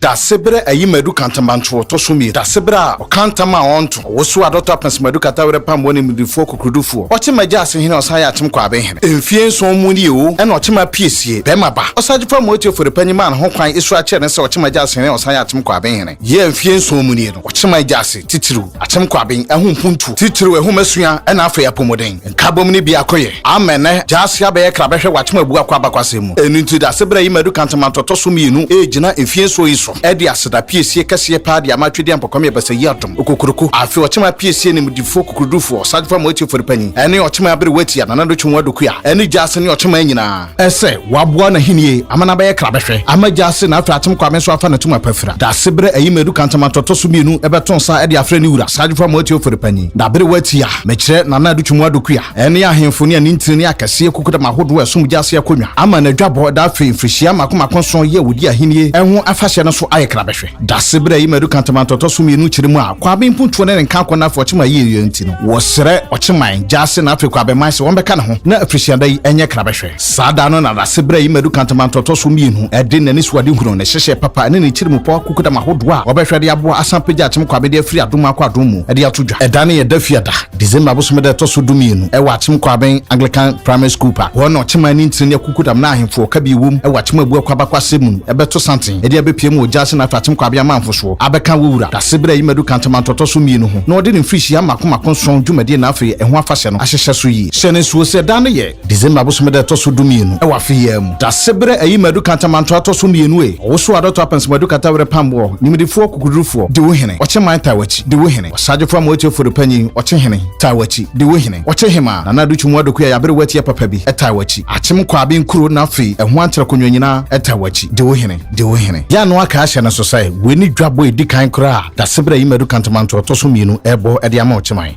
Dasebrɛ ayi madu kantamanto wɔtɔ so mmienu. Dasebrɛ a ɔka ntam a ɔnto. Ɔwoso adɔtɔ apɛnso madu kata werɛ pam wɔne mudifoɔ kokurudufoɔ. Ɔkye ma gya ase hene ɔsan yɛ atem kɔ aben hene. Mfie nson mu nie o ɛna ɔkye ma pie sie. Bɛrima ba. Ɔsagye fa mu otie fori panyin ma no ho kwan esuro akyerɛ no sɛ ɔkye ma gya ase hene ɔsan yɛ atem kɔ aben hene. Yea mfie nson mu nie no ɔkye ma gya ase titiriw. Akyem Kwabin ho mpuntuo, titiriw nhomasua na afei apɔmuden nkabom no biako yɛ ama ɛnnɛ Gyasi abɛyɛ kra bɛhwɛ w'akyem abu akɔ abakɔasɛm mu. Ɛno nti Dase berɛ yi Madu Kantaman tɔtɔ so mmienu regyina mfie nson yi so de aseda piesie kɛseɛ paa de ama Twedeɛ Mpɔkwamia Basayi Adom Okokuroko afe ɔkyem apiesie animdefoɔ kukurudufoɔ Sargefa Moatie Foripanyin ne ɔkyem aberewa Atia Nana Dotwe Nwoa Dokuya ne Gyasi ne ɔkyeman nyinaa Ɛsɛ waboa n'ahennie ama no abɛyɛ krabɛhwɛ ama gya ase na afei atem kwame nso afa n'atum apafira. Dase berɛ ayi madu kantamanto ɛtɔ so mmienu ɛbɛto nsa ɛde afrɛ ne wura Sagyefo Amoah Teofori Panyin na bere wɔ atia mekyerɛ Nana Adu Twumua Dokua ɛne ahemfo ne anintini ne akɛseɛ kokodam ahodoɔ a ɛsom gya ase akonnwa ama n'adwabɔ da afei mfirihyia mako mako nson yi a wɔdi ahennie ho afahyɛ no so ayɛ krabɛhwɛ. Dase berɛ a Imadu ka Ntamanto ɔtɔ so mmienu kyerɛ mu a Kwabe mpuntuo ne ne nkankɔ no afa Ɔkyeman ayieeɛ nti no, wɔsrɛ Ɔkyeman, Gyase na afei Kwabeman sɛ wɔmmɛka ne ho na afirihyiada yi nyɛ krabɛhwɛ. Saa da no na Dase berɛ a Imadu ka Ntamanto ɔtɔ so mmienu de n'anisoadehunu, ne hyehyɛɛ papa ne ne tirimupɔ akukudam ahodoɔ a wɔbɛhwɛ de aboa asan apagya Akyem Kwabe de afiri adom mu akɔ adom mu de ato dwa. Ɛda no yɛ Dafiada. December bosome da ɛtɔ so du mmienu ɛwɔ Akyem Kwaben Anglican Primary School pa hɔ na Ɔkyeman ne Ntini ne Akukudam na Ahemfo ɔka bi ɛwom ɛwɔ Akyem Abu Akwa Bakwa Asɛm mu no ɛbɛto santen ɛde abɛpue mu wɔ Gyasi Nato Akyem Kwaben Amanfo soɔ abɛka wɔ Wura Dasebere Ayimadu Kantamanto ɔtɔ so mmienu ho na ɔde ne mfirihyia mako mako nson dwumadie na afei ɛho afahyɛ no ahyehyɛ so yie. Hyɛ no nsuo sɛ ɛda no yɛ. December bosome da ɛtɔ so du mmienu ɛwɔ afe yi ara mu Dasebere Ayimadu Kantamanto atɔ so mmienu e ɔwosoɔ a Dɔto Apɛnso Madu Katawerɛ Pam wɔ Nimdefoɔ Kukudurufoɔ Dewu Hene Ɔkyeman Taawakyi Dewu Hene. Ɔsagyefo amoatiefo repanyin, ɔkye hene, taa w'akyi, de wo hene. Ɔkye hemaa, Nana Ado Twum Wadokua a yɛabere wo atiɛ papa bi, taa w'akyi. Akyem Kwaabin Kuro na afei ɛho antra konnwa nyinaa, taa w'akyi, de wo hene, de wo hene. Yɛn ano aka ahyɛ no so sɛ, wei ne dwabɔ a edi kan koraa a Dasebere Ayimadu Kantamanto a ɔtɔ so mmienu rebɔ de ama ɔkyeman.